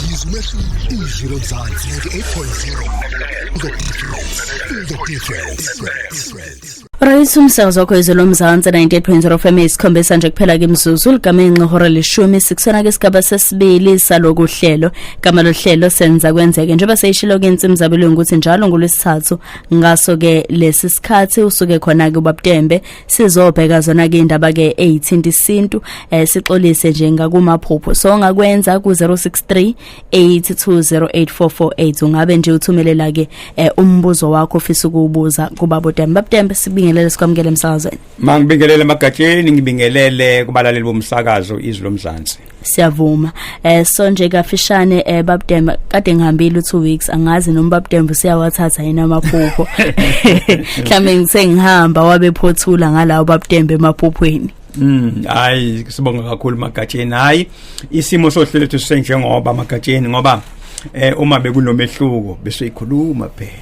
Yizo umehluko izwi lomzansi 98.0 The difference The difference Rayisa umsakazo wakho izwe lomzansi 98.0 FM isikhombisa nje kuphela ke imzuzu ligama inqihora leshumi sikusona ke sigaba sesibili saloku hlelo gama lohlelo senza kwenzeke njengoba seyishilo ke insimu zabelungu ukuthi njalo ngolwesithathu ngaso ke lesi sikhathi usuke khona ke ubabutembe sizobheka zona ke indaba ke eyithinta isintu eh, sixolise nje ngakumaphupho so ngakwenza ku 063 8208448 ungabe nje uthumelela ke eh, umbuzo wakho ofisa ukubuza kubabo Dembe babudembe sibingelele sikwamukele emsakazweni mangibingelele magatsheni ngibingelele kubalaleli bomsakazo izwi lomzansi siyavuma eh so nje kafishane eh babdem kade ngihambile u2 weeks angazi noma babdem usiyawathatha yena amaphupho mhlambe ngise ngihamba wabe phothula ngalawo babdem emaphuphweni Mm hayi sibonga kakhulu magatsheni hayi isimo sohlelo sethu senjengoba magatsheni ngoba eh uma bekunomehluko bese ikhuluma phela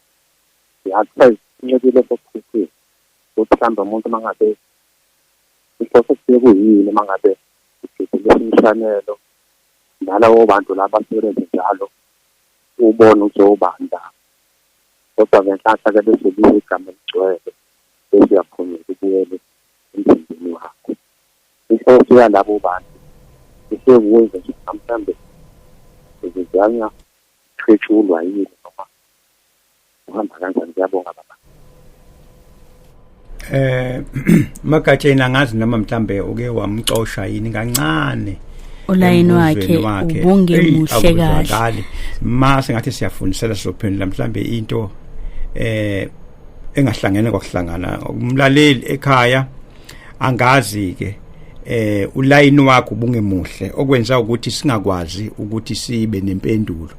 ngiyakupheza incekile sokuphusile ukuthi mhlawumbe umuntu uma ngabe inhloso kusuke kuyini uma ngabe ugidulisa imshanelo nalawo bantu laba asebenze njalo ubone ukuthi obani la kodwa ngenhlanhla ke bese libe igama eligcwele bese uyaphumela ubuyele emzimbeni wakho inhloso yalabo bantu isekuwenza nje mhlawumbe uzizanya Qhetshulwa yini noma uhamba kanjani ngiyabonga baba. Eh magatsheni angazi noma mhlambe uke wamxosha yini kancane. ulayini wakhe ubungemuhle kahle ma sengathi siyafundisela sizophendula mhlambe into eh engahlangene kwakuhlangana umlaleli ekhaya angazi ke eh ulayini wakho bungemuhle okwenza ukuthi singakwazi ukuthi sibe nempendulo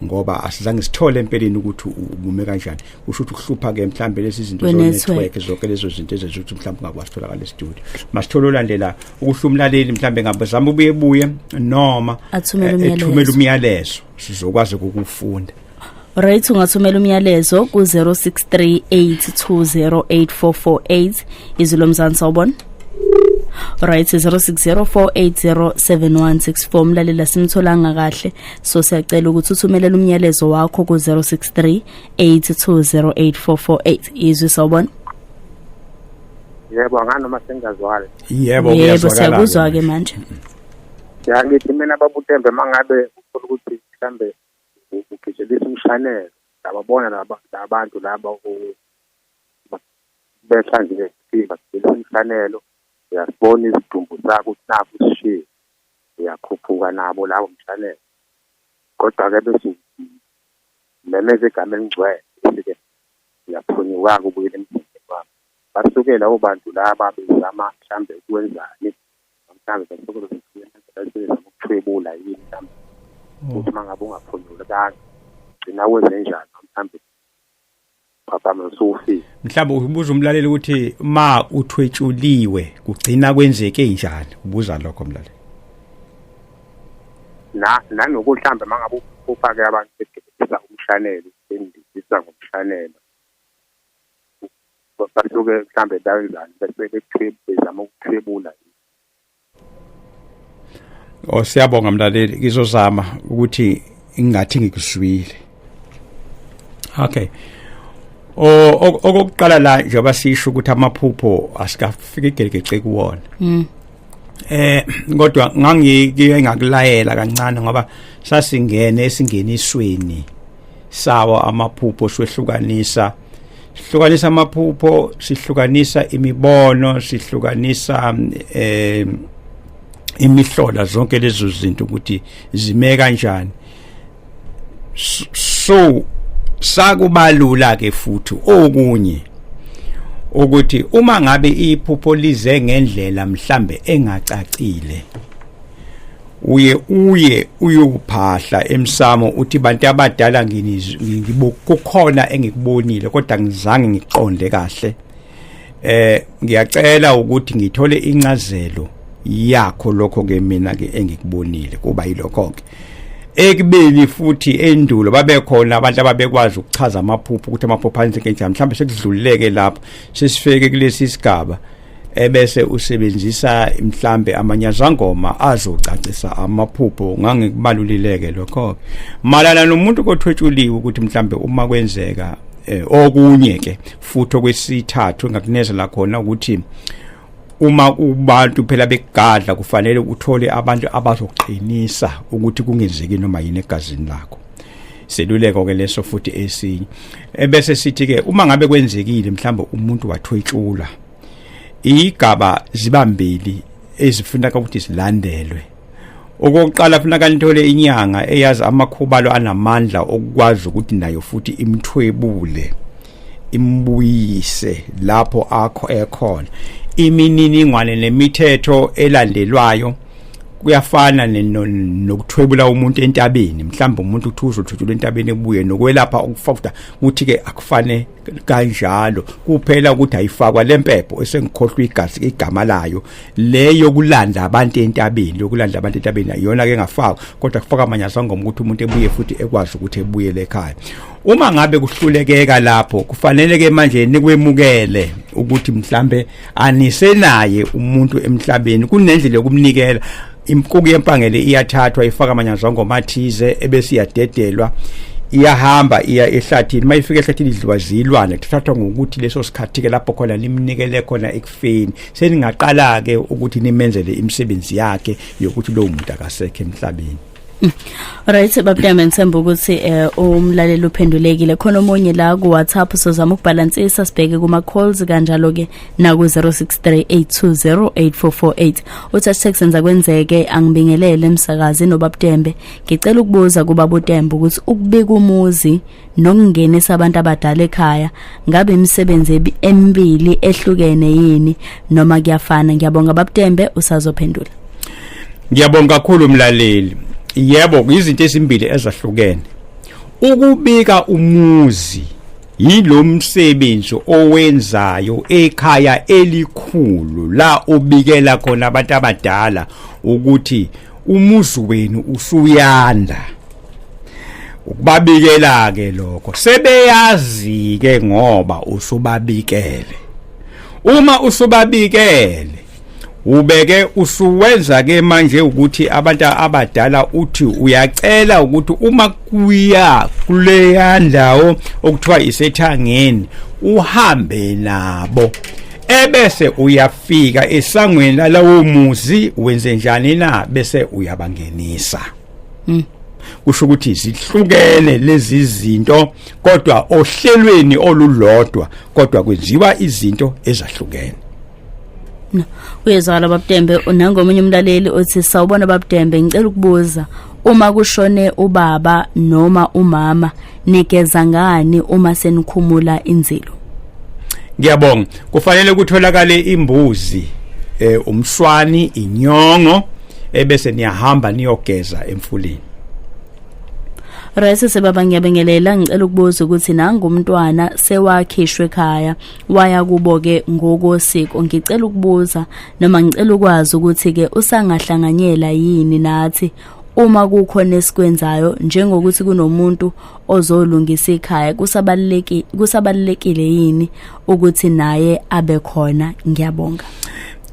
ngoba asizange sithole empeleni ukuthi ubume kanjani usho ukuthi uhlupha ke mhlambe lezi zinto zo network zonke lezo zinto ezenza ukuthi mhlambe ungakwazi ukutholakala e-studio masithole olandela ukuhla umlaleli mhlambe ngabe zama ubuye buye noma athumele eh, umyalezo sizokwazi ukufunda Right ungathumela umyalezo ku 0638208448 izwi lomzansi sawubona right 0604807164 mlalela simtholanga kahle so siyacela ukuthi uthumelele umyalezo wakho ku 0638208448 izwi sawubona yebo nganoma sengazwala yebo yebo siyakuzwa ke manje ngiyakithi mina babutembe mangabe ufuna ukuthi mhlambe ugitshelisa umshanelo lababona laba labantu laba behlanzile siphila sigcina umfanelo uyasibona isidumbu sakho ukuthi nakho sishiye uyakhuphuka nabo lawo mfanelo kodwa-ke bese memeza igama elingcwele bese-ke uyaphunyuka-ke ubuyela emzimbeni wakho basukela obantu laba bezama mhlawumbe ukwenzani mhlawumbe basuke besebenza ukuthwebula yini mhlawumbe mm. ukuthi uma ngabe ungaphunyulekanga gcina kwezenjani mhlawumbe phaphama usufile mhlawumbe ubuza umlaleli ukuthi ma uthwetshuliwe kugcina kwenzeke njani ubuza lokho mlaleli na nanokuthi mhlawumbe uma ngabe ufake abantu bedebisa umshanelo bendibisa ngomshanelo basuke mhlambe bakwenzani bese bekuthwebula bezama ukuthwebula Oh siyabonga mlaleli ngizozama ukuthi ingathi ngikuzwile Okay okokuqala la njengoba sisho ukuthi amaphupho asikafiki igelegece kuwona mm. eh kodwa ngangike ngakulayela kancane ngoba sasingene esingenisweni sawo amaphupho swehlukanisa sihlukanisa amaphupho sihlukanisa imibono sihlukanisa eh imihlola zonke lezo zinto ukuthi zime kanjani so sakubalula ke futhi okunye ukuthi uma ngabe iphupho lize ngendlela mhlambe engacacile uye uye uyophahla emsamo uthi bantu abadala ngikukhona engikubonile kodwa ngizange ngiqonde kahle eh ngiyacela ukuthi ngithole incazelo yakho lokho ke mina ke engikubonile kuba yilokho ke ekubeni futhi endulo babekhona abantu ababekwazi ukuchaza amaphupho ukuthi amaphupho anzike njani mhlawumbe sekudlululeke lapho sesifike kulesi sigaba ebese usebenzisa mhlambe amanyazangoma azocacisa amaphupho ngangikubalulileke lokho malana nomuntu kothwetshuliwe ukuthi mhlambe uma kwenzeka eh, okunye ke futhi okwesithathu ngakunezela khona ukuthi uma ubantu phela bekugadla kufanele uthole abantu abazoqinisa ukuthi kungenzeki noma yini egazini lakho seluleko ke leso futhi esinye ebese sithi ke uma ngabe kwenzekile mhlawumbe umuntu wathwetshula igaba zibambili ezifuna ukuthi silandelwe okokuqala funa kanithole inyanga eyazi amakhubalo anamandla okukwazi ukuthi nayo futhi imthwebule imbuyise lapho akho ekhona imininingwane nemithetho elandelwayo kuyafana nokuthwebula umuntu entabeni mhlawumbe umuntu uthuza uthuthula entabeni ebuye nokwelapha ukufakuda kuthi ke akufane kanjalo kuphela ukuthi ayifakwa lempepho esengikhohlwa igazi igama layo leyo kulanda abantu entabeni lokulanda abantu entabeni ayona ke ngafakwa kodwa kufaka amanyasa ngoma ukuthi umuntu ebuye futhi ekwazi ukuthi ebuye lekhaya uma ngabe kuhlulekeka lapho kufanele ke manje nikwemukele ukuthi mhlambe anisenaye umuntu emhlabeni kunendlela yokumnikela imkuku yempangele iyathathwa ifaka amanyanzongo mathize ebese iyadedelwa iyahamba iya ehlathini mayifika ehlathini idliwa zilwane kuthathwa ngokuthi leso sikhathi ke lapho khona limnikele khona ekufeni seningaqala ke ukuthi nimenzele imisebenzi yakhe yokuthi lo muntu akasekho emhlabeni Right babudame ngithemba ukuthi eh umlaleli uphendulekile khona omunye la ku WhatsApp sozama ukubalansisa sibheke kuma calls kanjalo ke na ku 0638208448 uthi asithe senza kwenzeke angibingelele emsakazi nobabudembe ngicela ukubuza kuba budembe ukuthi ukubika umuzi nokungenisa abantu abadala ekhaya ngabe imisebenzi emibili ehlukene yini noma kuyafana ngiyabonga babtembe usazophendula ngiyabonga kakhulu mlaleli yebo izinto ezimbili ezahlukene ukubika umuzi yilomsebenzi owenzayo ekhaya elikhulu la obikela khona abantu abadala ukuthi umuzi wenu usuyanda ukubabikela ke lokho sebeyazi ke ngoba usubabikele uma usubabikele ubeke usuwenza ke manje ukuthi abantu abadala uthi uyacela ukuthi uma kuya kuleya ndawo okuthiwa isethangeni uhambe nabo ebese uyafika esangweni lalawo muzi wenze njani na bese uyabangenisa mm. kusho ukuthi zihlukene lezi zinto kodwa ohlelweni olulodwa kodwa kwenziwa izinto ezahlukene uyezwala babudembe nangomunye umlaleli othi sawubona babudembe ngicela ukubuza Uma kushone ubaba noma umama nigeza ngani uma senikhumula inzilo? Ngiyabonga. Kufanele kutholakale imbuzi, eh umswani, inyongo ebese niyahamba niyogeza emfuleni. Rese sebaba ngiyabingelela ngicela ukubuza ukuthi nangu umntwana sewakhishwe ekhaya waya kubo ke ngokosiko ngicela ukubuza noma ngicela ukwazi ukuthi ke usangahlanganyela yini nathi uma kukhona esikwenzayo njengokuthi kunomuntu ozolungisa ikhaya kusabalulekile kusabalulekile yini ukuthi naye abe khona ngiyabonga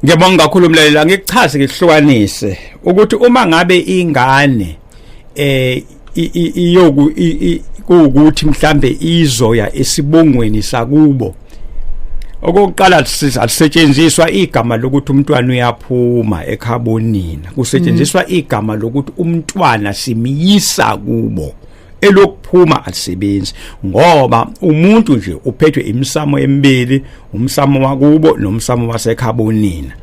Ngiyabonga kakhulu mlaleli angikuchaze ngikuhlukanise ukuthi uma ngabe ingane eh iyoku kuwukuthi mhlambe izoya esibongweni sakubo okokuqala sisetshenziswa igama lokuthi umntwana uyaphuma ekhabonina kusetshenziswa mm. igama lokuthi umntwana simyisa kubo elokuphuma alisebenzi ngoba umuntu nje uphethwe imisamo emibili umsamo wakubo nomsamo wasekhabonina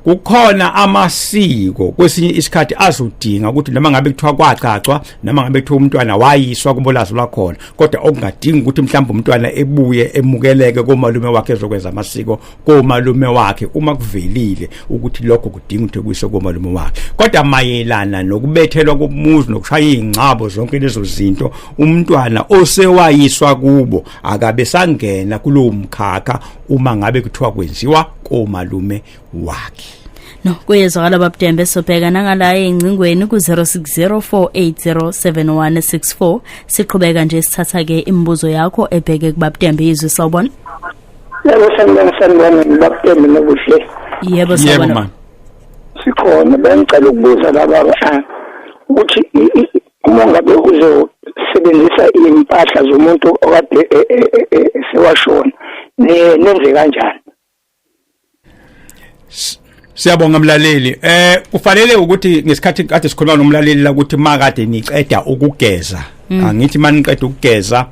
kukhona amasiko kwesinye isikhathi azodinga ukuthi noma ngabe kuthiwa kwagcagcwa noma ngabe kuthiwa umntwana wayiswa kubolazo lwakhona kodwa okungadingi ukuthi mhlawumbe umntwana ebuye emukeleke komalume wakhe ezokwenza amasiko komalume wakhe uma kuvelile ukuthi lokho kudinga ukuthi kuyiswe komalume wakhe kodwa mayelana nokubethelwa komuzi nokushaya ingcabo zonke lezo zinto umntwana osewayiswa kubo akabe sangena kulowo mkhakha uma ngabe kuthiwa kwenziwa komalume wakhe no kuyezwakala babudembe sobheka nangala engcingweni ku-06048071164 siqhubeka nje sithatha-ke imibuzo yakho ebheke kubabudembe yizwe sawubona yebo sanibona sanibona ngibabudembe nokuhle yebo sawubona sikhona bengicela ukubuza laba ukuthi uma ngabe uzosebenzisa iy'mpahla zomuntu okade e, e, e, esewashona nenze kanjani Siyabonga mlaleli. Eh kufanele ukuthi ngesikhathi kade sikhuluma nomlaleli la ukuthi makade niqeda ukugeza. Mm. Angithi maniqeda ukugeza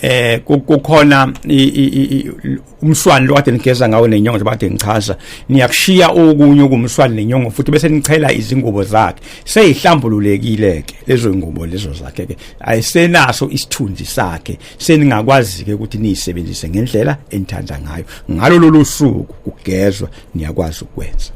eh kukhona umswani lo kade nigeza ngawo nenyongo njengoba kade ngichaza niyakushiya okunye okumswani nenyongo futhi bese nichela izingubo zakhe seyihlambululekile-ke lezo zingubo lezo zakhe-ke ayisenaso isithunzi sakhe seningakwazi-ke ukuthi niyisebenzise ngendlela enithanda ngayo ngalo lolu suku kugezwa niyakwazi ukwenza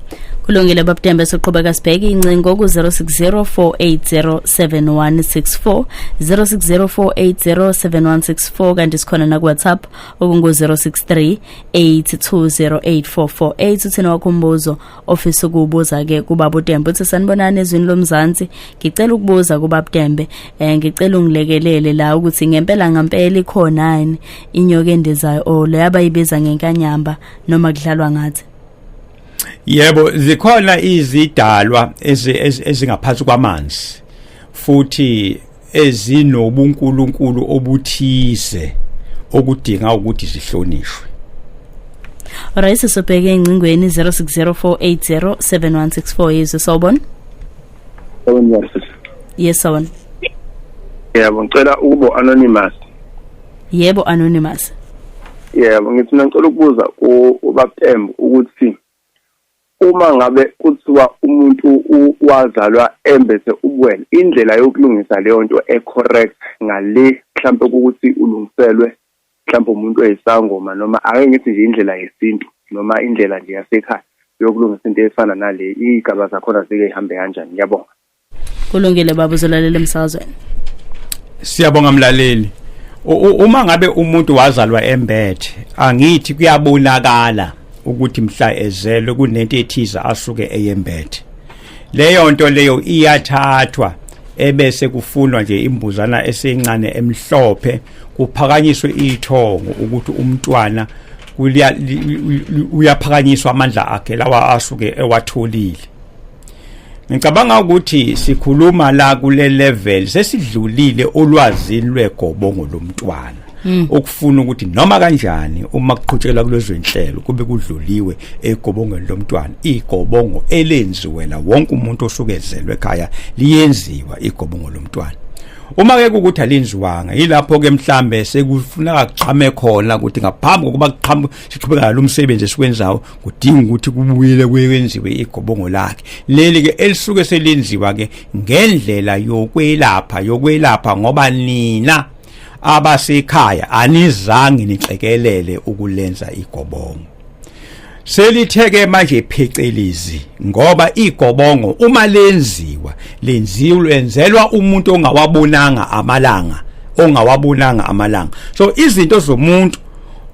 kulungile babudembe soqhubeka sibheke incingo ku-060 4807164 060 kanti sikhona nakuwhatsapp okungu-063 8208448 uthina wakho umbuzo ofisa ukuwubuza-ke kubaba udembe uthi sanibonani ezwini lomzansi ngicela ukubuza kubabudembe um eh, ngicela ungilekelele la ukuthi ngempela ngampela ikhonani inyoka endizayo o oh, leyo abayibiza ngenkanyamba noma kudlalwa ngathi yebo zikhona izidalwa ezingaphansi kwamanzi futhi ezinobunkulunkulu obuthize okudinga ukuthi zihlonishwe Alright sisubheke engcingweni 0604807164 yizwe sawubona Sawubona Yes sawubona Yebo ngicela ukubo anonymous yebo anonymous yebo ngithi ngicela ukubuza ubabuTembu ukuthi uma ngabe kuthiwa umuntu wazalwa embethe ubuwena indlela yokulungisa leyo nto ecorrect ngale mhlawumbe ukuthi ulungiselwe mhlawumbe umuntu oyisangoma noma ake ngithi nje indlela yesintu noma indlela nje yasekhaya yokulungisa into efana nale iy'gaba zakhona zike yihambe kanjani ngiyabonga kulungile baba uzolalela emsazweni siyabonga mlaleli uma ngabe umuntu wazalwa embethe angithi kuyabonakala ukuthi mhla ezelwe kunento ethize asuke eyembethe leyo nto leyo iyathathwa ebese kufunwa nje imbuzana esencane emhlophe kuphakanyiswe ithongo ukuthi umntwana uyaphakanyiswa amandla akhe lawa asuke ewatholile ngicabanga ukuthi sikhuluma la kule level sesidlulile ulwazi lwegobongo lomntwana hmm. ukufuna ukuthi noma kanjani uma kuqhutshela kulezo inhlelo kube kudluliwe egobongweni lomntwana igobongo elenziwe la wonke umuntu osukezelwe ekhaya liyenziwa igobongo lomntwana uma ke ukuthi alinziwanga yilapho ke mhlambe sekufuna kuqhame khona ukuthi ngaphambi kokuba kuqhamuke siqhubeka lo msebenzi esiwenzayo kudinga ukuthi kubuyele kwenziwe igobongo lakhe leli ke elisuke selenziwa ke ngendlela yokwelapha yokwelapha ngoba nina abasekhaya anizange nixekelele ukulenza igobongo selitheke manje phecelezi ngoba igobongo uma lenziwa lenziwe lenzelwa umuntu ongawabonanga amalanga ongawabonanga amalanga so izinto zomuntu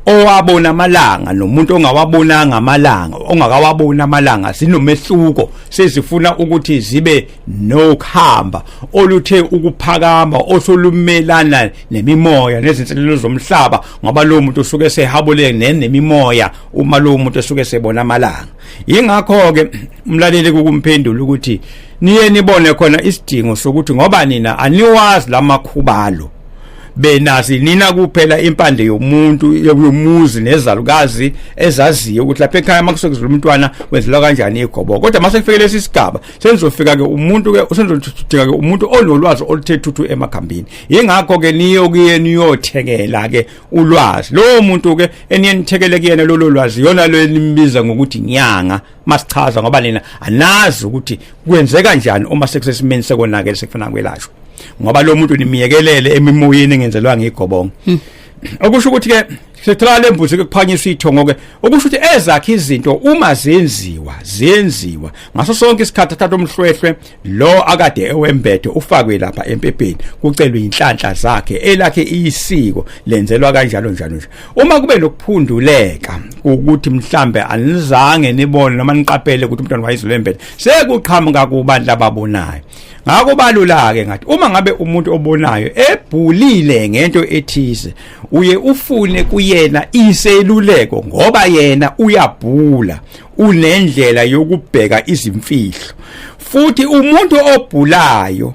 owabona amalanga nomuntu ongawabonanga amalanga ongakawaboni amalanga zinomehluko sezifuna ukuthi zibe nokuhamba oluthe ukuphakama osolumelana nemimoya nezinselelo zomhlaba ngoba lo muntu usuke sehabule nemimoya uma lo muntu esuke sebona amalanga yingakho ke umlaleli kukumphendula ukuthi niye nibone khona isidingo sokuthi ngoba nina aniwazi lamakhubalo benazi nina kuphela impande yomuntu yomuzi nezalukazi ezaziyo ukuthi lapha ekhaya makusokuzula umntwana wenzelwa kanjani igobo kodwa mase kufike lesi sigaba senzofika ke umuntu ke usenzodinga ke umuntu onolwazi oluthe thuthu emakhambini ingakho ke niyo kuye niyothekela ke ulwazi lowo muntu ke eniyenithekele kuyena lolo lwazi yona lo enimbiza ngokuthi nyanga masichaza ngoba nina anazi ukuthi kwenzeka kanjani uma sekusesimeni sekonakele sekufana kwelashwa ngoba lo muntu nimiyekelele emimoyeni engenzelwa ngigobonga hmm. okusho ukuthi ke sithola lembuzi kuphanyiswa ithongo ke okusho ukuthi ezakhe izinto uma zenziwa zenziwa ngaso sonke isikhathi athatha umhlwehlwe lo akade ewembethe ufakwe lapha empepeni kucelwa inhlanhla zakhe elakhe isiko lenzelwa kanjalo njalo nje uma kube nokuphunduleka ukuthi mhlambe anizange nibone noma niqaphele ukuthi umntwana wayizolembethe sekuqhamuka kubantu lababonayo ngakho balulake ngathi uma ngabe umuntu obonayo ebhulile ngento ethize uye ufune kuyena iseluleko ngoba yena uyabhula unendlela yokubheka izimfihlo futhi umuntu obhulayo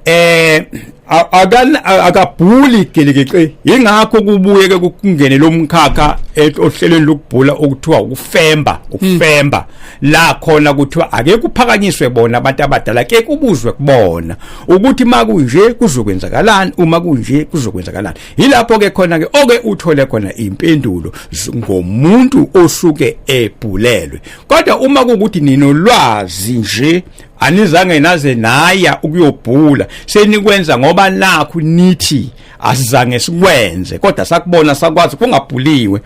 eh akabhuli gelekeqe ingakho kubuye ke kungene lomkhakha eh, ohlelweni lokubhula okuthiwa ukufemba ukufemba hmm. la khona kuthiwa ake kuphakanyiswe bona abantu abadala ke kubuzwe kubona ukuthi makunje kuzokwenzakalani uma kunje kuzokwenzakalani Yilapho ke khona ke oke uthole khona impendulo ngomuntu osuke ebhulelwe. Kodwa uma kukuthi ninolwazi nje anizange naze naya ukuyobhula senikwenza ngoba nakhu nithi asizange sikwenze kodwa sakubona sakwazi kungabhuliwe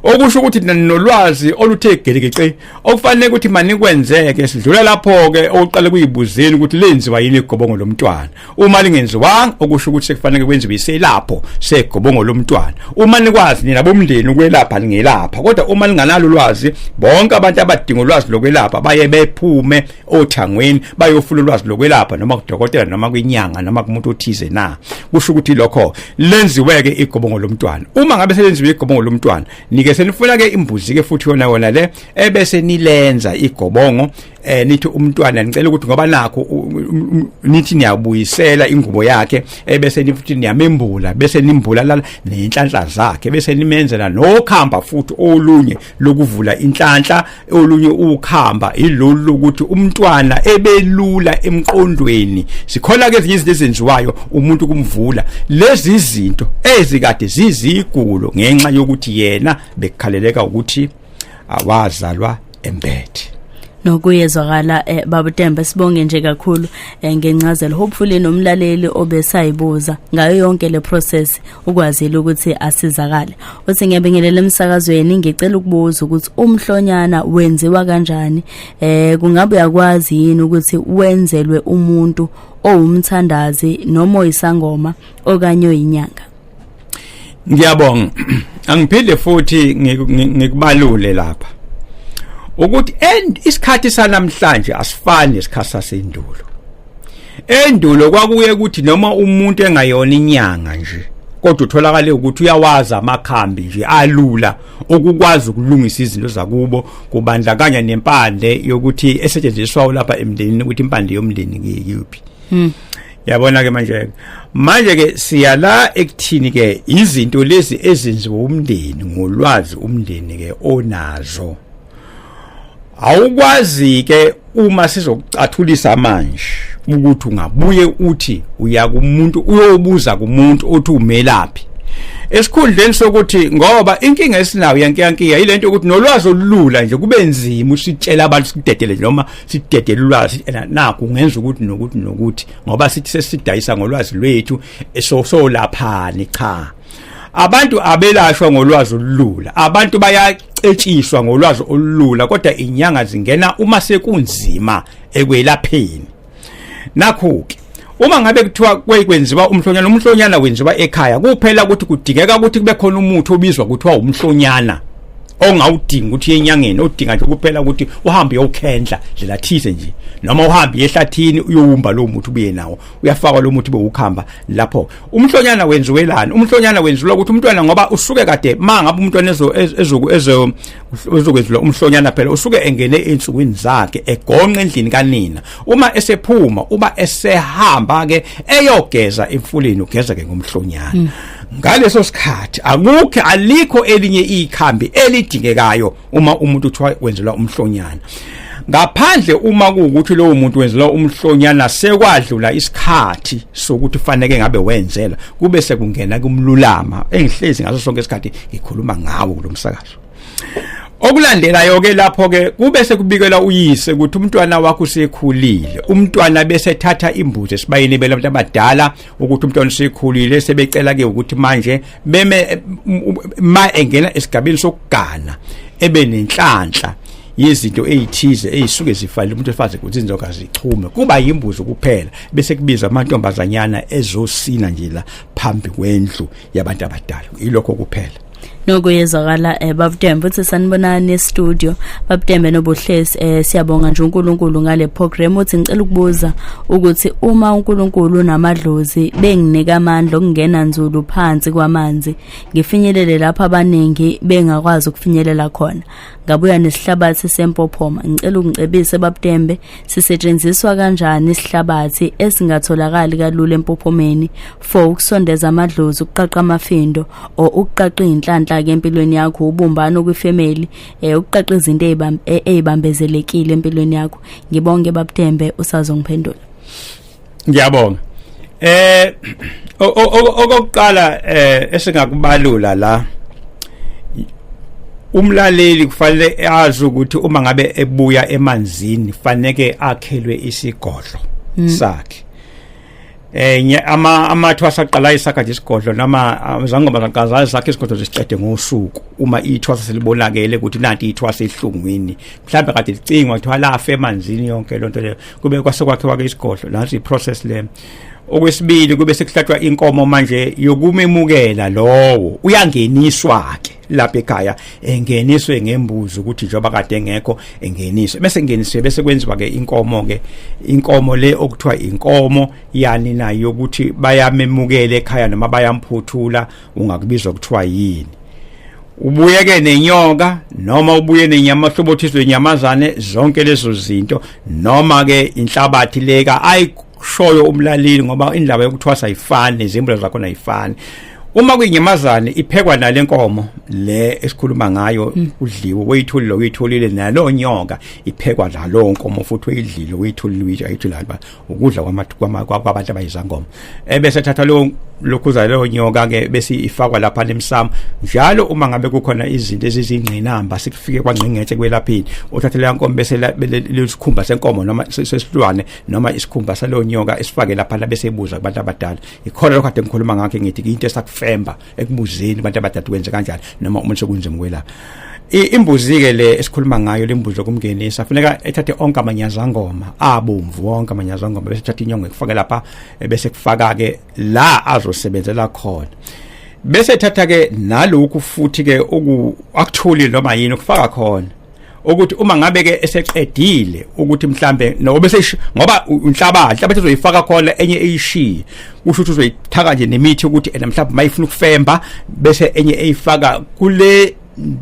okusho ukuthi ninolwazi oluthe gelekeqe okufanele ukuthi manikwenzeke sidlula lapho ke oqale kuyibuzeni ukuthi lenziwa yini igobongo lomntwana uma lingenziwanga okusho ukuthi sekufanele kwenziwe iselapho segobongo lomntwana uma nikwazi nina bomndeni ukwelapha lingelapha kodwa uma linganalo ulwazi bonke abantu abadinga ulwazi lokwelapha baye bephume othangweni bayofuna ulwazi lokwelapha noma kudokotela noma kwinyanga noma kumuntu othize na kusho ukuthi lokho lenziweke igobongo lomntwana uma ngabe selenziwe igobongo lomntwana nike senifuna ke imbuzi ke futhi yona yona le ebese nilenza igobongo eh nithi umntwana ngicela ukuthi ngoba nakho nithi niyabuyisela ingubo yakhe ebese eh, nifuthi niyamembula bese nimbula lana nenhlanhla zakhe bese nimenzela nokhamba futhi olunye lokuvula inhlanhla olunye ukhamba ilolu lokuthi umntwana ebelula emqondweni sikhona ke izinto ezenziwayo umuntu kumvula lezi zinto ezikade zizigulo ngenxa yokuthi yena bekukhaleleka ukuthi awazalwa embethi nokuyezwakala eh, baba Tembe sibonge nje kakhulu eh, ngencazelo hopefully nomlaleli obesayibuza ngayo yonke le process ukwazile ukuthi asizakale uthi ngiyabingelela emsakazweni ngicela ukubuza ukuthi umhlonyana wenziwa kanjani eh kungabe yakwazi yini ukuthi wenzelwe umuntu owumthandazi noma oyisangoma okanye oyinyanga ngiyabonga angiphinde futhi ngikubalule lapha ukuthi end isikhathi sanamhlanje asifani nesikhathi sasendulo endulo kwakuye ukuthi noma umuntu engayona inyanga nje kodwa utholakale ukuthi uyawazi amakhambi nje alula okukwazi ukulungisa izinto zakubo kubandakanya nempande yokuthi esetshenziswa lapha emndenini ukuthi impande yomndeni ngiyiphi hmm. yabona ke manje manje ke siyala ekuthini ke izinto lezi ezenziwa umndeni ngolwazi umndeni ke onazo awukwazi ke uma sizokucathulisa manje ukuthi ungabuye uthi uya kumuntu uyobuza kumuntu othi umelaphi esikhundleni sokuthi ngoba inkinga esinayo yankiyankiya yilento ukuthi nolwazi olulula nje kube nzima usitshela abantu sikudedele noma sidedele ulwazi ena naku ngenza ukuthi nokuthi nokuthi ngoba sithi sesidayisa ngolwazi lwethu so so laphani cha abantu abelashwa ngolwazi olulula abantu bayacetshiswa ngolwazi olulula kodwa inyanga zingena uma sekunzima ekwelapheni nakho ke uma ngabe kuthiwa kwekwenziwa umhlonyana umhlonyana wenziwa ekhaya kuphela ukuthi kudingeka ukuthi kube khona umuthi obizwa kuthiwa umhlonyana ongawudingi ukuthi yenyangeni odinga nje kuphela ukuthi uhambe uyokhendla ndlela thize nje noma uhambe ehlathini uyowumba lo muthi ubuye nawo uyafakwa lo muthi bewukhamba lapho umhlonyana wenziwelani umhlonyana wenziwa ukuthi umntwana ngoba usuke kade mangabe umntwana ezo ezo ezo uzokwenziwa umhlonyana phela usuke engene ensukwini zakhe egonqa endlini kanina uma esephuma uba esehamba ke eyogeza emfuleni ugeza ke ngomhlonyana mm. ngaleso sikhathi akukho alikho elinye ikhambi elidingekayo uma umuntu uthiwa wenzelwa umhlonyana ngaphandle uma kuwukuthi lowo muntu wenzelwa umhlonyana sekwadlula isikhathi sokuthi faneke ngabe wenzela kube sekungena kumlulama engihlezi ngaso sonke isikhathi ngikhuluma ngawo kulomsakazo okulandelayo ke lapho ke kube sekubikela uyise ukuthi umntwana wakho usekhulile umntwana bese thatha imbuzi esibayeni bela abantu abadala ukuthi umntwana usekhulile sebecela ke ukuthi manje beme ma engena esigabeni sokugana ebe nenhlanhla yezinto ezithize ezisuke zifanele umuntu efaze ukuthi izinto kazichume kuba yimbuzo kuphela bese kubiza amantombazanyana ezosina nje la phambi kwendlu yabantu abadala ilokho kuphela noko yezwakala um eh, babutembe uthi sanibonani estudio babutembe nobuhlesi um eh, siyabonga nje unkulunkulu ngale program uthi ngicela ukubuza ukuthi uma unkulunkulu unamadlozi benginika amandla okungena nzulu phansi kwamanzi ngifinyelele lapho abaningi bengakwazi ukufinyelela khona ngabuya nesihlabathi sempophoma ngicela ungicebise babutembe sisetshenziswa kanjani isihlabathi esingatholakali kalula empophomeni for ukusondeza amadlozi ukuqaqa amafindo or ukuqaqa izinhlanhla ke empilweni yakho ubumbano kwifamily eh ukuqaqa izinto ezibambezelekile eh, empilweni yakho ngibonge babutembe usazongiphendula ngiyabonga eh okokuqala eh esingakubalula la umlaleli kufanele azi ukuthi uma ngabe ebuya emanzini kufanele akhelwe isigodlo hmm. sakhe eh ama amathwa saqala isakha nje isigodlo nama zangoma zaqaza sakhe isigodlo zisiqede ngosuku uma ithwa selibonakele ukuthi nanti ithwa sehlungwini mhlawumbe kade licingwa kuthiwa lafe emanzini yonke lonto leyo kube kwase kwakhiwa ke isigodlo nansi iprocess le okwesibili kube sekuhlatshwa inkomo manje yokumemukela lowo uyangeniswa ke lapha ekhaya engeniswe ngembuzi ukuthi njengoba kade engekho engeniswe bese ngeniswe bese kwenziwa ke inkomo ke inkomo le okuthiwa inkomo yani nayo ukuthi bayamemukela ekhaya noma bayamphuthula ungakubizwa kuthiwa yini ubuye ke nenyoka noma ubuye nenyama hlobothizwe inyamazane zonke lezo zinto noma ke inhlabathi leka ayishoyo umlaleli ngoba indaba yokuthwasa ayifani izimbulo zakho ayifani uma kuyinyamazane iphekwa nale nkomo le esikhuluma ngayo hmm. udliwe uyitholile uyitholile nalo nyoka iphekwa nalo nkomo futhi uyidlile uyitholile uyitsha ayitholile ukudla kwabantu abayizangoma ebese thatha lo lokhuza leyo nyoka ke bese ifakwa lapha lemsamo njalo uma ngabe kukhona izinto ezizingqinamba sikufike kwangqingethe kwelaphini uthathe leya nkomo bese lesikhumba senkomo noma sesilwane noma isikhumba saleyo nyoka esifake lapha bese ebuza kubantu abadala ikhona lokho ade ngikhuluma ngakho ngithi into esakufemba ekubuzeni abantu abadala kwenze kanjani noma umuntu sekunzima ukwelapha imbuzi ke le esikhuluma ngayo lembuzi lokumngenisa kufuneka ethathe onke amanyazangoma abomvu wonke amanyazangoma bese thatha inyongo ekufake lapha bese kufaka ke la azosebenzela khona bese thatha ke nalokhu futhi ke oku actually noma yini ukufaka khona ukuthi uma ngabe ke eseqedile ukuthi mhlambe nobe sesh ngoba inhlabathi inhlabathi ezoyifaka khona enye eyishiye kusho ukuthi uzoyithaka nje nemithi ukuthi ena mhlambe mayifuna ukufemba bese enye eyifaka kule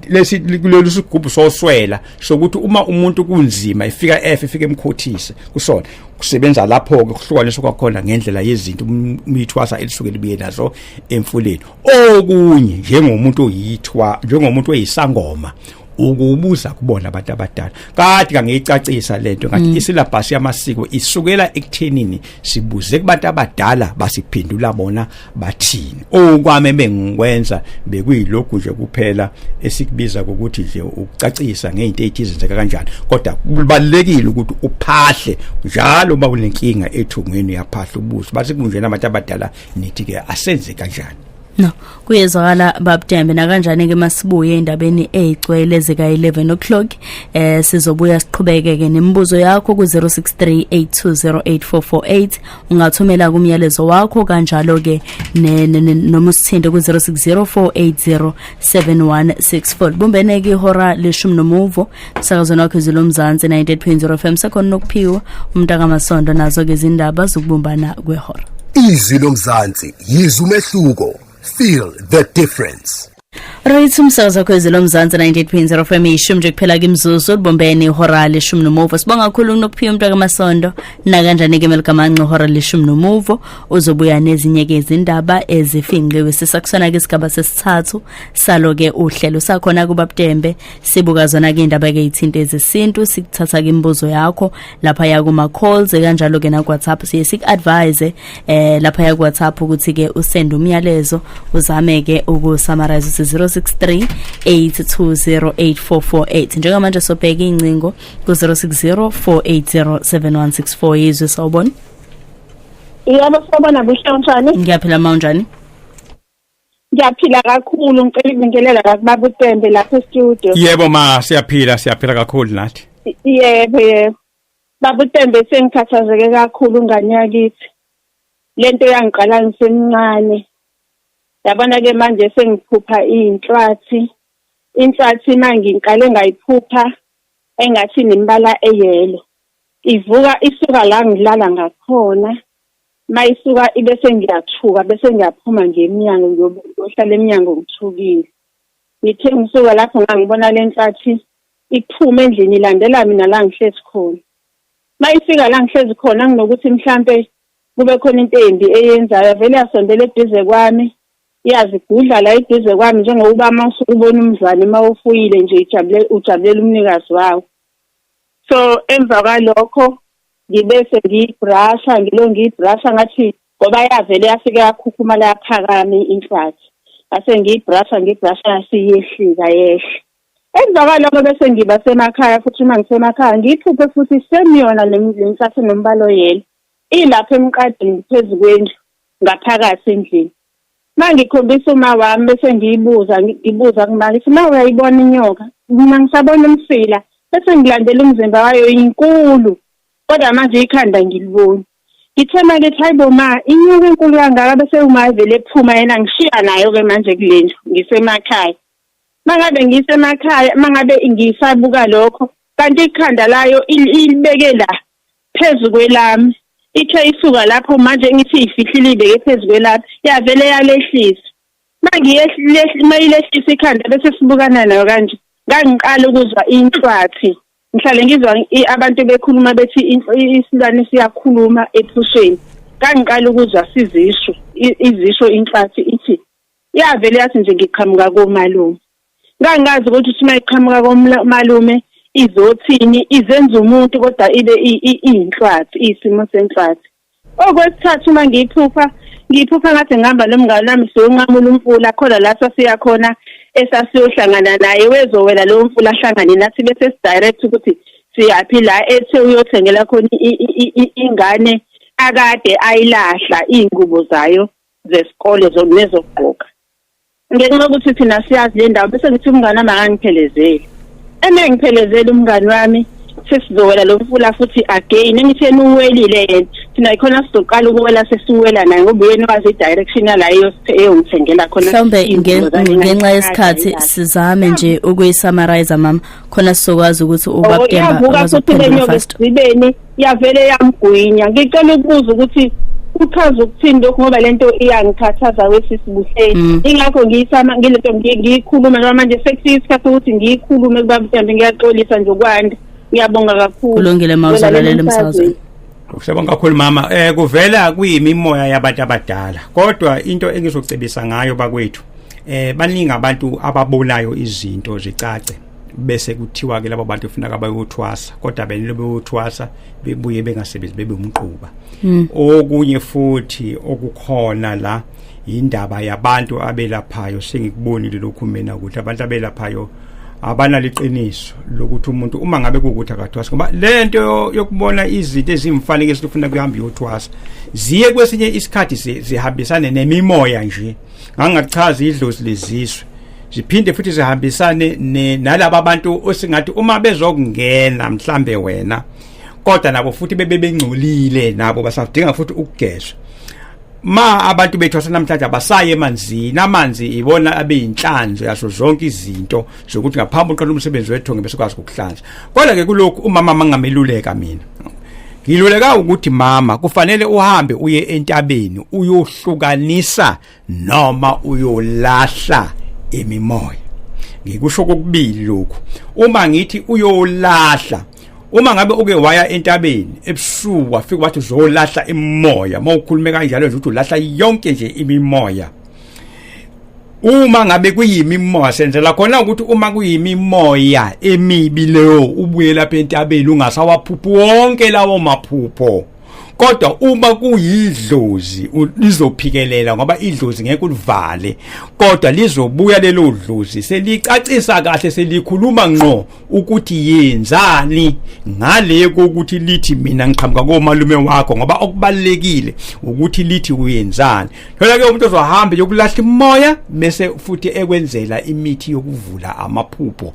lesi kulolu sigubhu soswela sokuthi uma umuntu kunzima ifika efe ifike emkhothise kusona kusebenza lapho ke kuhlukaniswa kwakhona ngendlela yezinto umithwasa um, elisuke libuye nazo emfuleni okunye njengomuntu oyithwa njengomuntu oyisangoma ukubuza kubona abantu abadala kade kangiyicacisa lento ngathi mm. isyllabus yamasiko isukela ekuthenini sibuze kubantu abadala basiphendula bona bathini okwame bengikwenza bekuyilokhu nje kuphela esikubiza ukuthi nje ukucacisa ngezinto ezenzeka kanjani kodwa kubalekile ukuthi uphahle njalo uma kunenkinga ethungweni yaphahla ubuso bathi kunjena abantu abadala nithi ke asenze kanjani No, kuyezwakala babudembe nakanjani ke masibuye endabeni ezigcwele zika 11 o'clock eh sizobuya siqhubeke ke nemibuzo yakho ku 0638208448 ungathumela kumyalezo wakho kanjalo ke noma usithinte ku 0604807164 bumbene ke ihora leshumi nomuvo emsakazweni wakho izwi lomzansi 98.0 fm sekhona nokuphiwa umntakamasondo nazo-ke izindaba zokubumbana kwehora izwi lomzansi yizwa umehluko feel the difference Right umsakazo kwezi lomzansi 98.0 FM ishumi nje kuphela kimzuzu libombeni ihora leshumi nomuvo sibonga kakhulu kunokuphiwa umuntu akamasondo nakanjani ke melikamanqe ihora leshumi nomuvo uzobuya nezinye ke izindaba ezifinqiwe sisakusona ke isigaba sesithathu salo ke uhlelo sakhona kubabutembe sibuka zona ke indaba ke ithinta ezesintu sikuthatha ke imibuzo yakho lapha ya kuma calls kanjalo ke na WhatsApp siye sik advise eh lapha ya WhatsApp ukuthi ke usend umyalezo uzame ke uku summarize 063 8208448 njengamanje sobheka incingo ku 0604807164 yizwe sawubona Yebo sawubona buhle unjani Ngiyaphila mawunjani Ngiyaphila kakhulu ngicela ibingelela kakubaba uTembe lapha e-studio. Yebo ma siyaphila siyaphila kakhulu nathi. Yebo yebo. Baba uTembe sengikhathazeke kakhulu ngane yakithi. Lento yangiqala ngisemncane. Yabona ke manje sengiphupha inhlathi. Inhlathi mangingiqale ngayiphupha engathi nembala eyelo. Ivuka isuka la ngilala ngakhona mayisuka ibe sengiyathuka bese ngiyaphuma nje emnyango ngiyohlala emnyango ngithukile ngithe ngisuka lapho ngangibona le nhlathi iphuma endlini ilandela mina la ngihlezi khona mayifika la ngihlezi khona nginokuthi mhlampe kube khona into embi eyenzayo vele yasondela eduze kwami iyazigudla la eduze kwami njengokuba uma usuke ubona umzali uma ufuyile nje ujabule ujabulela umnikazi wawo so emva kwalokho ngibe sengiyibrasha ngilo ngiyibrasha ngathi ngoba yavele yafike yakhukhumala yaphakama inhlathi ngase ngiyibrasha ngiyibrasha yasiyehlika yehle emva kwaloko bese ngiba semakhaya futhi uma ngisemakhaya ngiyiphuphe futhi semiyona le nhlathi nombala oyelo ilapha emqadini phezu kwendlu ngaphakathi endlini mangikhombisa uma wami bese ngiyibuza ngibuza kumake ukuthi ma uyayibona inyoka mina ngisabona umsila bese ngilandela umzimba wayo inkulu kodwa manje ikhanda ngiliboni ngithe manje ethi hayibo ma inyoka enkulu kangaka bese umavele ephuma yena ngishiya nayo-ke manje kule ndlu ngisemakhaya uma ngabe ngisemakhaya uma ngabe ngisabuka lokho kanti ikhanda layo ilibeke la phezu kwelami ithe isuka lapho manje ngithi ifihlile ibeke phezu kwelami yavele yalehlisa mayilehlisa ikhanda bese sibukana nayo kanje ngangiqala ukuzwa inhlwathi ngihlale ngizwa abantu bekhuluma bethi isilwane siyakhuluma ephusheni kangiqala ukuzwa sizisho izisho inhlathi ithi yavele yathi nje ngiqhamuka komalume ngangazi ukuthi sima iqhamuka komalume izothini izenza umuntu kodwa ibe iyinhlwathi isimo senhlwathi okwesithathu uma ngiyiphupha ngiyiphupha ngathi ngihamba nomngane wami siyonqamula umfula khona la sasiya khona esasiyohlangana naye wezowela lowo mfula ahlangane nathi bese sidirect ukuthi siyaphi la ethe uyothengela khona ingane akade ayilahla iy'ngubo zayo zesikole nezokugqoka ngenxa yokuthi thina siyazi le ndawo bese ngithi umngane wami akangiphelezeli eme ngiphelezela umngane wami sesizowela lo mfula futhi again engithi enuwelile yena thina yikhona sizoqala ukuwela sesiwela naye ngoba uyena wazi i-direction yalayo eyongithengela khona mhlawumbe ngenxa yesikhathi sizame nje ukuyisamariza mama khona sizokwazi ukuthi ubabuka oh, futhi lenyoka esibeni yavele yamgwinya ngicela ukubuza ukuthi uchaza ukuthini lokhu ngoba lento iyangikhathaza wesisibuhleni mm. ingakho ngiyisama ngilento ngiyikhuluma noma manje sekuyisikhathi ukuthi ngiyikhulume kuba mhlawumbe ngiyaxolisa nje ukwanda ngiyabonga kakhulu kulungile ma uzalalele emsazweni Siyabonga kakhulu mama. Eh kuvela kuyimimoya yabantu abadala. Kodwa into engizocebisa ngayo bakwethu eh baningi abantu ababolayo izinto zicace bese kuthiwa ke labo bantu kufuneka bayothwasa kodwa benile beyothwasa bebuye bengasebenzi bebe umquba hmm. okunye futhi okukhona la indaba yabantu abelaphayo sengikubonile lokhu mina ukuthi abantu abelaphayo abanaliqiniso lokuthi umuntu uma ngabe kukuthi akathwasa ngoba lento yokubona izinto ezimfanele esifuna kuhamba yothwasa ziye kwesinye isikhathi zihambisane nemimoya nje ngangachaza idlozi lezizwe ziphinde futhi zihambisane nalabo abantu osingathi uma bezokungena mhlambe wena kodwa nabo futhi bebe bengcolile nabo basadinga futhi ukugezwa ma abantu bethu asenamhlanje abasaye emanzini amanzi ibona abeyinhlanzo yaso zonke izinto zokuthi ngaphambi uqala umsebenzi wethu ngibe sikwazi ukuhlanza kodwa ke kulokhu umama mangameluleka mina ngiluleka ukuthi mama kufanele uhambe uye entabeni uyohlukanisa noma uyolahla imimoya ngikusho kokubili lokhu uma ngithi uyolahla uma ngabe uke waya entabeni ebusuku wafika wathi uzolahla imimoya uma ukhulume kanjalo nje ukuthi ulahla yonke nje imimoya uma ngabe kuyimimoya senzela khona ukuthi uma kuyimimoya emibi leyo ubuye lapha entabeni ungasawaphuphi wonke lawo maphupho kodwa uma kuyidlozi lizophikelela ngoba idlozi ngeke ulivale kodwa lizobuya lelo dlozi selicacisa kahle selikhuluma ngqo ukuthi yenzani ngale kokuthi lithi mina ngiqhamuka komalume wakho ngoba okubalekile ukuthi lithi uyenzani phela ke umuntu ozohamba yokulahla imoya bese futhi ekwenzela imithi yokuvula amaphupho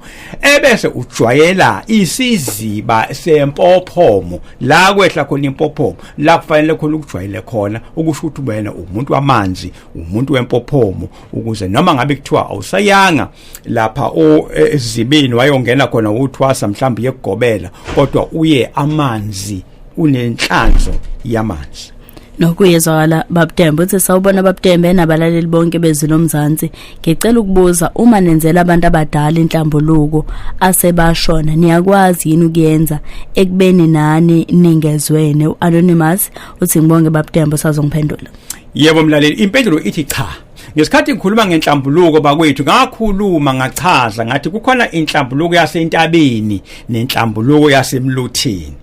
ebese ujwayela isiziba sempophomo la kwehla khona impophomo la kufanele khona ukujwayele khona ukusho ukuthi wena umuntu wamanzi umuntu wempophomo ukuze noma ngabe kuthiwa awusayanga lapha ezibini e, wayongena khona uthwasa mhlawumbe yekugobela kodwa uye amanzi unenhlanzo yamanje nokuyezwakala babudembe uthi sawubona babudembe nabalaleli bonke bezwi lomzansi ngicela ukubuza uma nenzela abantu abadala inhlambuluko asebashona niyakwazi yini ukuyenza ekubeni nani ningezwene u-anonymous uthi ngibonge babudembe usazongiphendula yebo mlaleli impendulo ithi cha Ngesikhathi ngikhuluma ngenhlambuluko bakwethu ngakhuluma ngachaza ngathi kukhona inhlambuluko yasentabeni nenhlambuluko yasemluthini.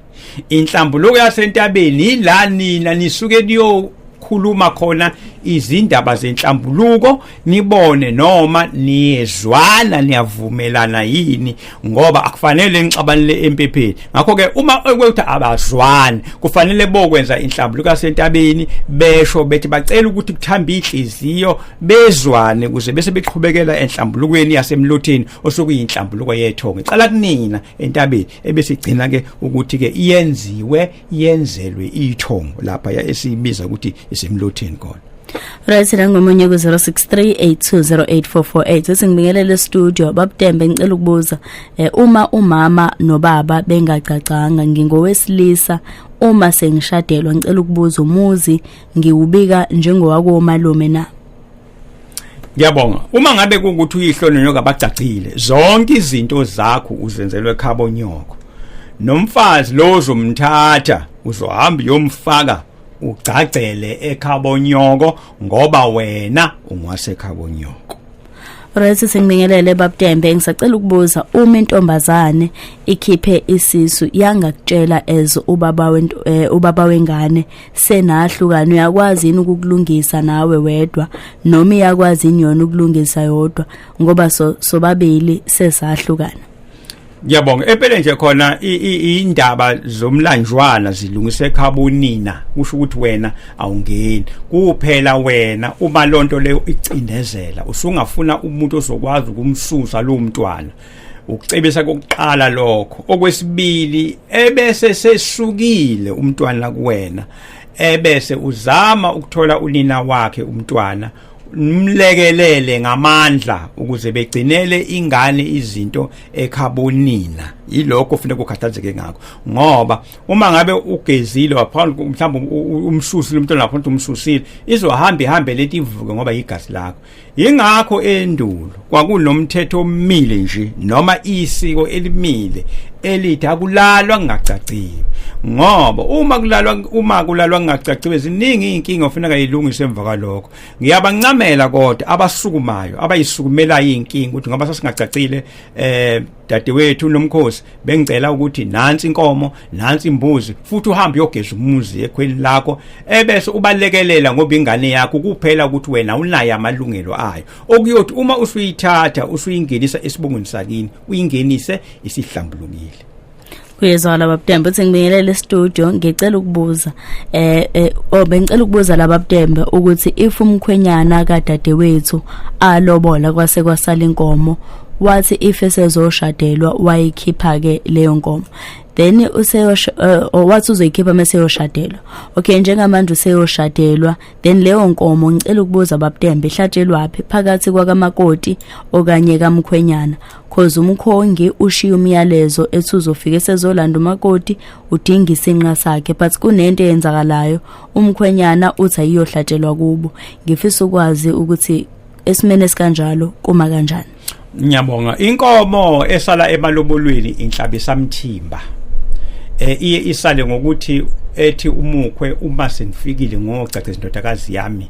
Inhlambuluko yasentabeni yila nina nisuke niyo khuluma khona izindaba zenhlambuluko nibone noma niyezwana niyavumelana yini ngoba akufanele nixabanele empepheni ngakho ke uma ukuthi abazwani kufanele bokwenza inhlambulu kasentabeni besho bethi bacela ukuthi kuthambe inhliziyo bezwane kuze bese beqhubekela enhlambulukweni yasemlotheni osukuyinhlambuluko yethongo iqala kunina entabeni ebesigcina ke ukuthi ke iyenziwe yenzelwe ithongo lapha esibiza ukuthi isemlotheni khona Right nangomunye ku 0638208448 sethi ngibingelele studio babudembe ngicela ukubuza eh, uma umama nobaba bengagcagcanga ngingowesilisa uma sengishadelwa ngicela ukubuza umuzi ngiwubika njengowako malume na Ngiyabonga. Uma ngabe kungukuthi uyihlo nonyoka bagcagcile, zonke izinto zakho uzenzelwe ekhabo nyoko. Nomfazi lo uzomthatha, uzohamba uyomfaka ugcagcele ekhabonyoko ngoba wena ungwasekhabonyoko Right sengibingelele babTembe ngisacela ukubuza uma intombazane ikhiphe isisu yangakutshela as ubaba wento eh, ubaba wengane senahlukana uyakwazi yini ukukulungisa nawe wedwa noma iyakwazi yini yona ukulungisa yodwa ngoba so sobabili sesahlukana Ngiyabonga empeleni nje khona indaba zomlanjwana zilungise ekhabonina kusho ukuthi wena awungeni kuphela wena uma lonto leyo icindezela usungafuna umuntu ozokwazi ukumsusa lo mntwana ukucebisa kokuqala lokho okwesibili ebese sesukile umntwana kuwena ebese uzama ukuthola unina wakhe umntwana mlekelele ngamandla ukuze begcinele ingane izinto ekhabonina yilokho ufuna kukhathazeke ngakho ngoba uma ngabe ugezile waphambi mhlawumbe umsusile umntwana lapho umsusile izohamba ihambe leti ivuke ngoba yigazi lakho yingakho endulo kwakunomthetho omile nje noma isiko elimile elithi akulalwa kungacaciwe ngoba uma kulalwa uma kulalwa kungacaciwe ziningi inkinga ofuneka ilungise emva kwalokho ngiyabancamela kodwa abasukumayo abayisukumela inkinga ukuthi ngoba sasingacacile eh dadewethu nomkhosi bengicela ukuthi nansi inkomo nansi imbuzi futhi uhambe uyogeza umuzi ekhweni lakho ebese ubalekelela ngoba ingane yakho kuphela ukuthi wena unayo amalungelo ayo okuyothi uma usuyithatha usuyingenisa esibongweni sakini uyingenise isihlambulukile kuyezwa laba butembe uthi ngibingelele studio ngicela ukubuza eh, eh oh bengicela ukubuza laba butembe ukuthi if umkhwenyana kadadewethu alobola kwase kwasala inkomo wathi if esezoshadelwa wayikhipha ke leyo nkomo then useyosho eh, oh, wathi uzoyikhipha meseyoshadelwa okay njengamanje useyoshadelwa then leyo nkomo ngicela ukubuza babtembe ihlatshelwaphi phakathi kwakamakoti okanye kamkhwenyana cause umkhongi ushiya umyalezo ethi uzofika esezolanda umakoti udinga isinqa sakhe but kunento eyenzakalayo umkhwenyana uthi ayiyohlatshelwa kubo ngifisa ukwazi ukuthi esimene sikanjalo kuma kanjani Ngiyabonga. Inkomo esala emalobolweni inhlabisa mthimba. Eh iye isale ngokuthi ethi umukhwe uma senifikile ngogcagceza indodakazi yami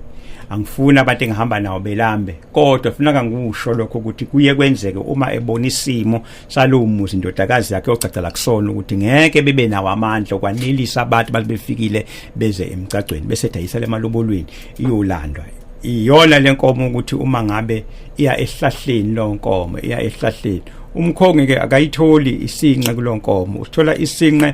angifuni abantu engihamba nawo belambe kodwa funeka ngikusho lokho ukuthi kuye kwenzeke uma ebona isimo Shalumu indodakazi yakhe ogcagcela kusona ukuthi ngeke bebe nawo amandla okwanelisa abantu bathi befikile beze emgcagcweni bese dayisa lemalubolweni iyolandwa iyona lenkomo ukuthi uma ngabe iya ehlahleni lonkomo iya ehlahleni umkhongi ke akayitholi isinqe kulonkomo usithola isinqe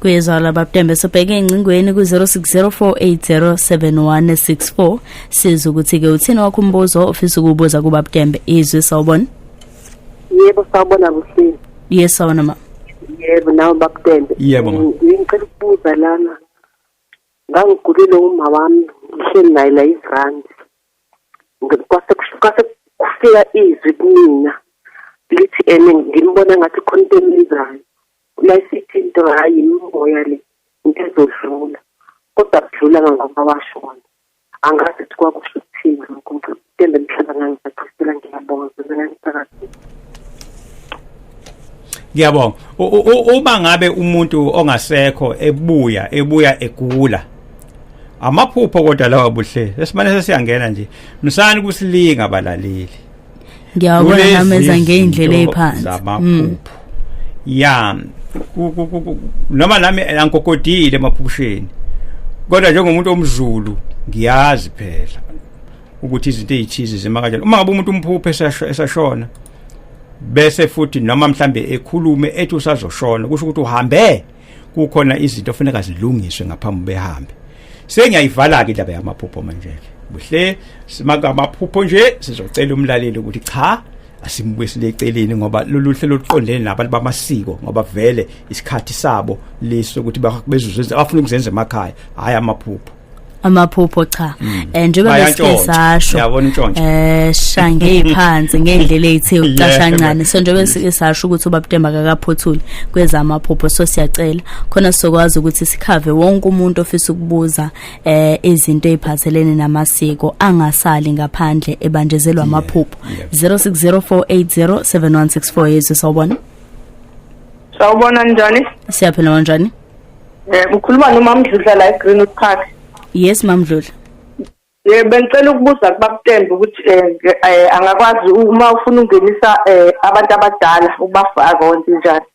kuyezwala babudembe sobheke engcingweni ku-0604807164 siza ukuthi-ke uthini wakho umbuzo ofisa ukuwubuza kubabudembe izwi sawubona yebo sawubona kuhleli ye sawubona ma yebo nawe babudembe yebo ma ngicela ukubuza lana ngangigulile uma wami ngihleli naye la izirandi kwase kufika izwi kumina lithi ene ngimbona ngathi khona into engizayo Nasithi into hhayi imimoya le into ezodlula kodwa kudlula kangoba washona angazi ukuthi kwakusho ukuthini lokho ngitembe mhlaba ngangisaqhubekela ngiyabonga zizekaniphakathi ngiyabonga uma ngabe umuntu ongasekho ebuya ebuya egula amaphupho kodwa lawa buhle esimane sesiyangena nje msani kusilinga abalaleli ngiyawabona nameza ngey'ndlela ey'phansi mm. ya noma nami angigogodile emaphusheni kodwa njengomuntu omzulu ngiyazi phela ukuthi izinto ezithize zima kanjani uma ngabe umuntu umphuphe esashona bese futhi noma mhlambe ekhulume ethi usazoshona kusho ukuthi uhambe kukhona izinto ofuneka zilungiswe ngaphambi behambe sengiyayivala ke indaba yamaphupho manje ke buhle simaka amaphupho nje sizocela umlaleli ukuthi cha asimbuyisile eceleni ngoba lolu hlelo luqondene nabantu bamasiko ngoba vele isikhathi sabo leso ukuthi bezuze abafuna ukuzenza emakhaya hayi amaphupho amaphupho cha mm. eh, njengoba besike sasho yabona intshontsho eh shange phansi ngendlela ethe ucasha kancane so njengoba besike sasho ukuthi ubabudemba akakaphothuli kweza amaphupho so siyacela khona sizokwazi ukuthi sikhave wonke umuntu ofisa ukubuza eh izinto eziphathelene namasiko angasali ngaphandle ebanjezelwa amaphupho 0604807164 yezwe sawubona sawubona njani siyaphila kanjani Eh ukhuluma nomamdludla la eGreenwood Park. Yes mamdludla. Eh bengicela ukubuza kubakutembe ukuthi eh, eh angakwazi uma ufuna ungenisa eh, abantu abadala ubafaka onke njani.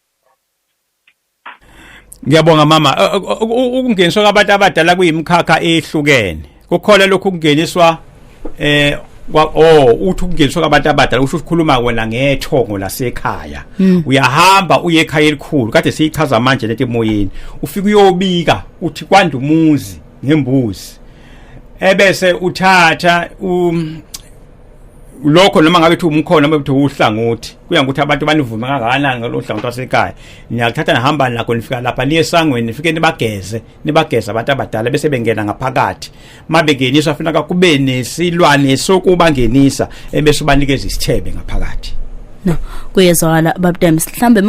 Ngiyabonga mama eh, ukungeniswa kwabantu abadala kuyimkhakha ehlukene. kukhona lokhu kungeniswa eh kwa oh uthi ukungeniswa kwabantu abadala usho ukukhuluma wena ngethongo lasekhaya hmm. uyahamba uye ekhaya elikhulu kade siyichaza manje leti emoyeni ufika uyobika uthi kwanda umuzi ngembuzi ebese uthatha um lokho noma ngabe thi umkhona noma ukuthi uhlangothi kuya ngokuthi abantu banivume kangakanani ngalomhlangothi wasekhaya niyakuthatha nihamba nakho nifika lapha niye esangweni nifike nibageze nibageza abantu abadala bese bengena ngaphakathi mabengenisa afuna kakube nesilwane sokuba ngenisa ebese ubanikeza isithebe ngaphakathi no kuyezwakala babudembe mhlambe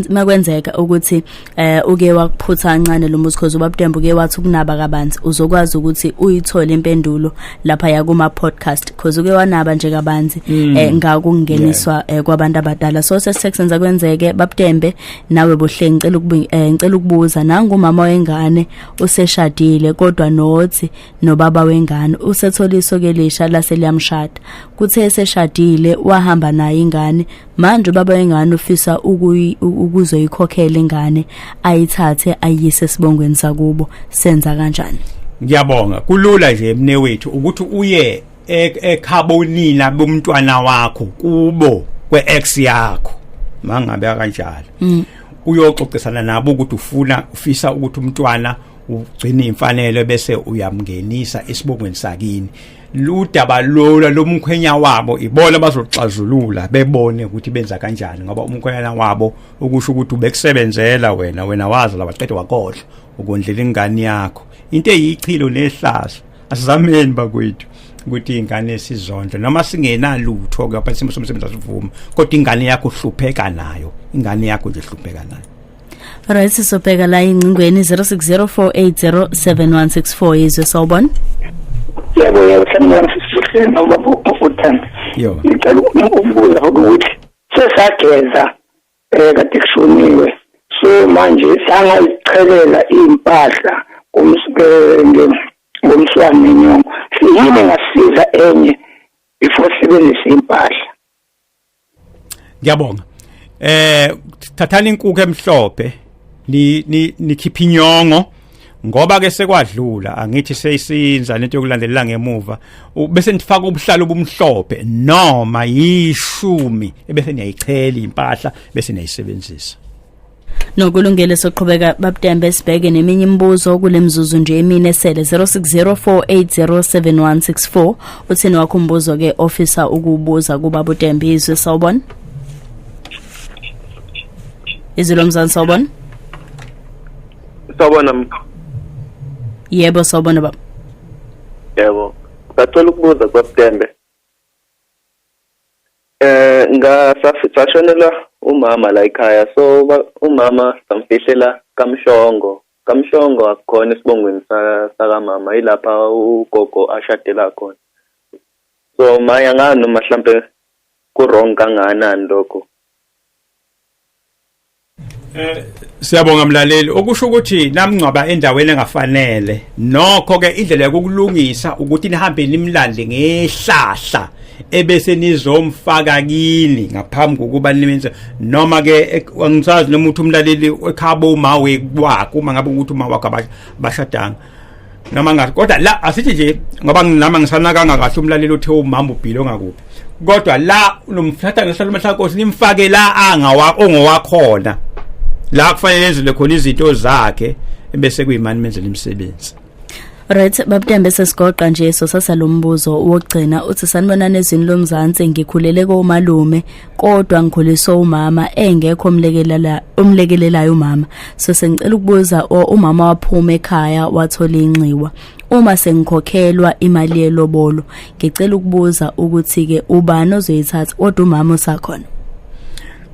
makwenzeka ukuthi eh uke wakuphutha kancane lo muzi cause ubabudembe uke wathi ukunaba kabanzi uzokwazi ukuthi uyithole impendulo lapha yakuma podcast cause uke wanaba nje kabanzi mm. eh ngakungeniswa eh, kwabantu abadala so sesixenza kwenzeke babudembe nawe bohle ngicela eh, ngicela ukubuza nangu umama wengane useshadile kodwa nothi nobaba wengane usethola isoke lisha lase liyamshada kuthe eseshadile wahamba naye ingane manje ubaba wengane ufisa ukuzoyikhokhela ingane ayithathe ayise sibongweni sakubo senza kanjani ngiyabonga kulula nje emnewethu ukuthi uye ekhabonina bomntwana wakho kubo kweex yakho mangabe akanjalo mm. uyoxoxisana nabo ukuthi ufuna ufisa ukuthi umntwana ugcine imfanelo bese uyamngenisa isibongweni sakini ludaba lola lomkhwenya wabo ibona bazoxazulula bebone ukuthi benza kanjani ngoba umkhwenyana wabo ukusho ukuthi ubekusebenzela wena wena wazi lawaqede wakodla ukondlela ingane yakho into eyichilo nehlazo asizameni bakwethu ukuthi ingane sizondle noma singenalutho ke apha isimo somsebenzi asivuma kodwa ingane yakho uhlupheka nayo ingane yakho nje ihlupheka nayo right sisobheka la ingcingweni 0604807164 yizwe sawubona yebo yebo sanibona sisihle nobaba ufuthanda yo ngicela ukubuza ukuthi sesageza eh kade kushoniwe so manje sangayichelela impahla kumsibenge ngomswane nenyongo siyini ngasiza enye before sibenzise impahla ngiyabonga eh thathani inkukhu emhlophe ni nikhipha inyongo ngoba ke sekwadlula angithi seyisinza lento yokulandelela ngemuva bese nifaka ubuhlalo obumhlophe noma yishumi ebese niyayichela impahla bese niyayisebenzisa nokulungele soqhubeka babudembe sibheke neminye imibuzo kule mzuzu nje emine esele 0604807164 uthini wakho umbuzo ke ofisa ukubuza kuba budembe izwe sawubona izwi lomzansi sawubona Sawubona mkhulu. Yebo sawubona baba. Yebo. Ngacela ukubuza kwaButembe. Eh ngasashonelwa umama la ekhaya so umama samfihlela kamhlongo. Kamhlongo akukhona esibongweni sakamama ilapha ugogo ashadela khona. So maya ngani noma mhlambe ku wrong kangakanani lokho. Eh siyabonga mlaleli okusho ukuthi namngcwaba endaweni engafanele nokho ke indlela yokulungisa ukuthi nihambe nimlande ngehlahla ebese nizomfaka kini ngaphambi kokuba nimenze noma ke angisazi noma uthi umlaleli ekhabo uma wekwakho uma ngabe ukuthi uma wakho abashadanga noma ngathi kodwa la asithi nje ngoba nginama ngisanakanga kahle umlaleli othe umama ubhilo ngakuphi kodwa la unomthatha ngehlalo mahlakosi nimfake la angawa ongowakhona la kufanele enzelwe khona izinto zakhe ebese kuyimani menzela imisebenzi Right babudembe sesigoqa nje so sasalombuzo wokugcina uthi sanibonana ezini lomzansi ngikhulele komalume kodwa ngikhuliswe umama engekho omlekelela omlekelelayo umama so sengicela ukubuza o- umama waphuma ekhaya wathola inxiwa uma sengikhokhelwa imali yelobolo ngicela ukubuza ukuthi ke ubani ozoyithatha kodwa umama usakhona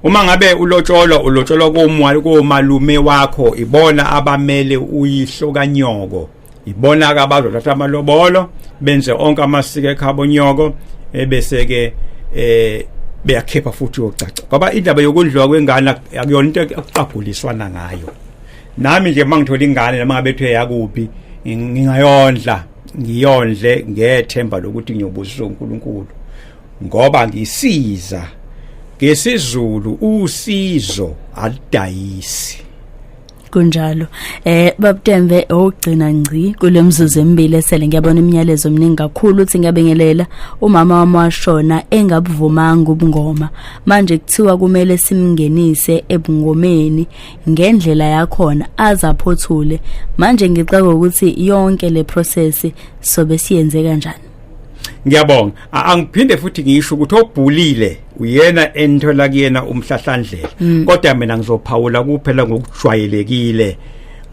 uma ngabe ulotsholwa ulotsholwa komwali komalume wakho ibona abamele uyihlo kanyoko ibona-ke abazothatha amalobolo benze onke amasiko ekhabo nyoko ebese-ke eh beyakhipha futhi uyocaca ngoba indaba yokudliwa kwengane akuyona into ekuqaguliswana ngayo nami nje uma ngithola ingane noma ngabe kuthiwe yakuphi ngingayondla ngiyondle ngethemba lokuthi ngiyobusisa uNkulunkulu ngoba ngisiza ngesizulu usizo alidayisi kunjalo eh babtembe ogcina ngci kulemzuzu emibili esele ngiyabona imiyalezo eminingi kakhulu uthi ngiyabingelela umama wami washona engabuvumanga ubungoma manje kuthiwa kumele simngenise ebungomeni ngendlela yakhona azaphothule manje ngixaka ukuthi yonke le process sobe siyenze kanjani ngiyabonga angiphinde futhi ngisho ukuthi obhulile uyena enthola kuyena umhlahlandlela mm. kodwa mina ngizophawula kuphela ngokujwayelekile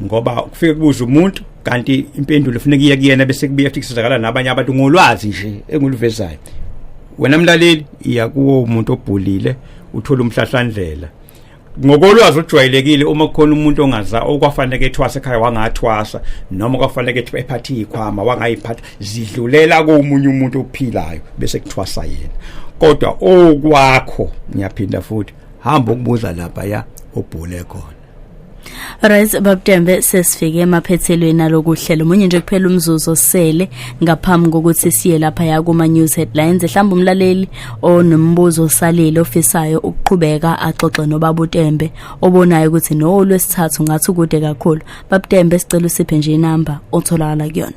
ngoba kufike kubuza umuntu kanti impendulo ifuneka iye kuyena bese kubuye futhi kusizakala nabanye abantu ngolwazi nje enguluvezayo wena mlaleli iya kuwo umuntu obhulile uthola umhlahlandlela ngokolwazi ojwayelekile uma kukhona umuntu ongaza okwafanele ethwasa ekhaya wangathwasa noma kwafanele ethi ephathe ikhwama wangayiphatha zidlulela komunye umuntu ophilayo bese kuthwasa yena kodwa okwakho ngiyaphinda futhi hamba ukubuza lapha ya obhule khona Right babTembe sesifike emaphethelweni alokuhlela umunye nje kuphela umzuzu osele ngaphambi kokuthi siye lapha ya kuma news headlines ehlamba umlaleli onombuzo osalile ofisayo ukuqhubeka axoxe nobabuTembe obonayo ukuthi no lwesithathu ngathi kude kakhulu babTembe sicela usiphe nje inamba otholakala kuyona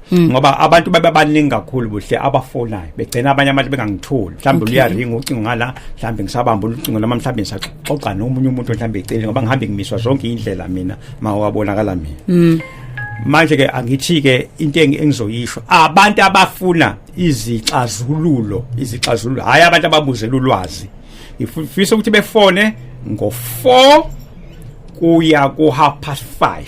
Hmm. ngoba abantu baba baningi kakhulu buhle abafonayo begcina abanye abantu bengangitholi mhlawumbe luyaringa ucingo ngala mhlawumbe ngisabamba ucingo lama mhlawumbe ngisaxoxa nomunye umuntu mhlawumbe ecele ngoba ngihambe ngimiswa zonke indlela mina mawabonakala mina hmm. manje ke angithi ke into engizoyisho abantu abafuna izixazululo izixazululo hayi abantu ababuze lulwazi ngifisa ukuthi befone ngo-4 kuya ku-half past 5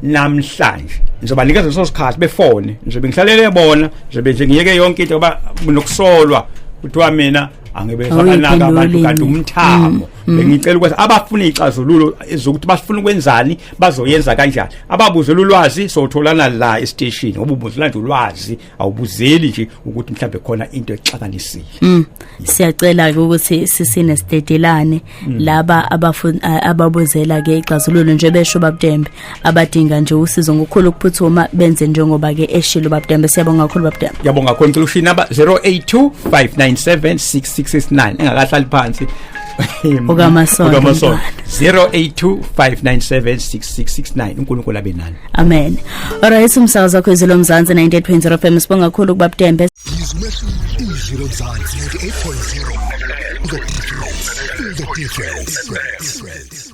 namhlanje ngizoba nikeza leso sikhathi befone ngizobe ngihlalele bona ngizobe nje ngiyeke yonke into ngoba nokusolwa kuthiwa mina angibe sabanaka abantu kanti umthamo mm, mm. bengicela ukuthi abafuna ixazululo ezokuthi bafuna ukwenzani bazoyenza kanjani ababuze ulwazi sotholana la estation obubuzela nje ulwazi awubuzeli nje ukuthi mhlambe khona into exakanisile mm. siyacela ke ukuthi sisine stedelane mm. laba abafuni ababuzela ke ixazululo nje besho babudembe abadinga nje usizo ngokukhulu ukuphuthuma benze njengoba ke eshilo babudembe siyabonga kakhulu babudembe yabonga kakhulu ngicela ushini namba 0825976669 engakahlali phansi okamasonto 0825976669 uNkulunkulu abe nani amen alright umsakazo wakho izwi lomzansi 98.0 fm sibonga kakhulu ukuba butembe izwi lomzansi 98.0 the difference the difference